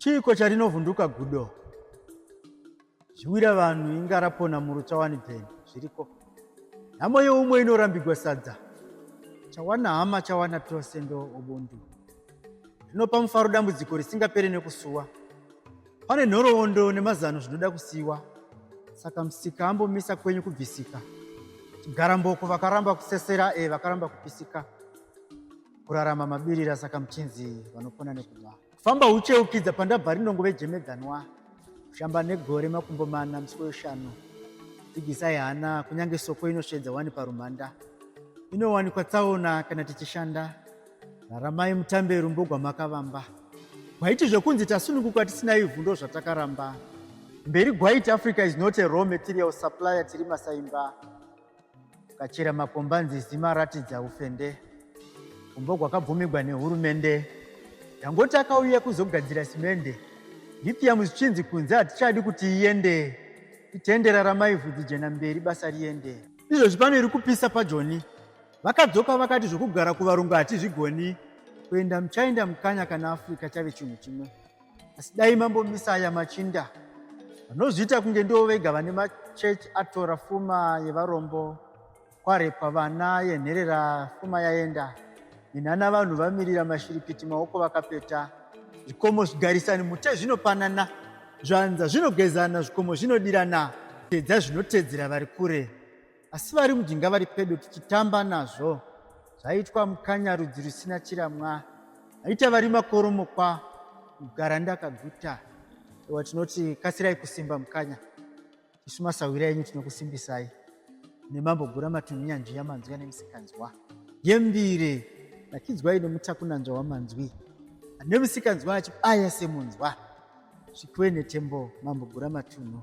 chiiko charinovhunduka gudo zviwira vanhu inga rapona muru chawani bheni zviriko nhamo yeumwe inorambigwa sadza chawana hama chawana tose ndo ubundu zvinopa mufaro dambudziko risingapere nekusuwa pane nhoroondo nemazano zvinoda kusiwa saka musika ambomisa kwenyu kubvisika chigaramboko vakaramba kusesera e vakaramba kupisika Kurarama mabirira saka muchinzi vanopona nekunwa. Kufamba ucheukidza pandabva rinongo vejemedzanwa. Kushamba negore makumbo mana musiko yoshanu. Dzigisai hana kunyange soko inoshedza wani parumhanda. Inowanikwa tsaona kana tichishanda. Raramai mutambe rumbo gwamakavamba. Gwaiti zvekunzi tasununguka tisina ivhu ndozvatakaramba. Mberi Gwaiti Africa is not a raw material supplier tiri masaimba. kachira makombanzizi maratidza ufende umbo gwakabvumigwa nehurumende dangoti akauya kuzogadzira simende lithium zvichinzi kunze hatichadi kuti iende itendera ramai vhudzi jena mberi basa riende izvozvi pano iri kupisa pajoni vakadzoka vakati zvokugara kuvarungu hatizvigoni kuenda muchaenda mukanya kana africa chave chinhu chimwe asi dai mambomisa aya machinda vanozviita kunge ndivo vega vane machechi atora fuma yevarombo kwarepwa vana yenherera fuma yaenda minana vanhu vamirira mashiripiti maoko vakapeta zvikomo zvigarisani mute zvinopanana zvanza zvinogezana zvikomo zvinodirana tedza zvinotedzera vari kure asi vari mujinga vari pedo tichitamba nazvo zvaitwa mukanya rudzi rusina chiramwa aita vari makoromokwa kugara ndakaguta ewa tinoti kasirai kusimba mukanya isu masahwira enyu tinokusimbisai nemambo gura matunhu nyanzvi yamanzwi ane musikanzwa yembire nakidzwai nemutakunanzva wamanzwi ane musikanzwa achibaya semunzwa zvikiwe netembo mambo gura matunhu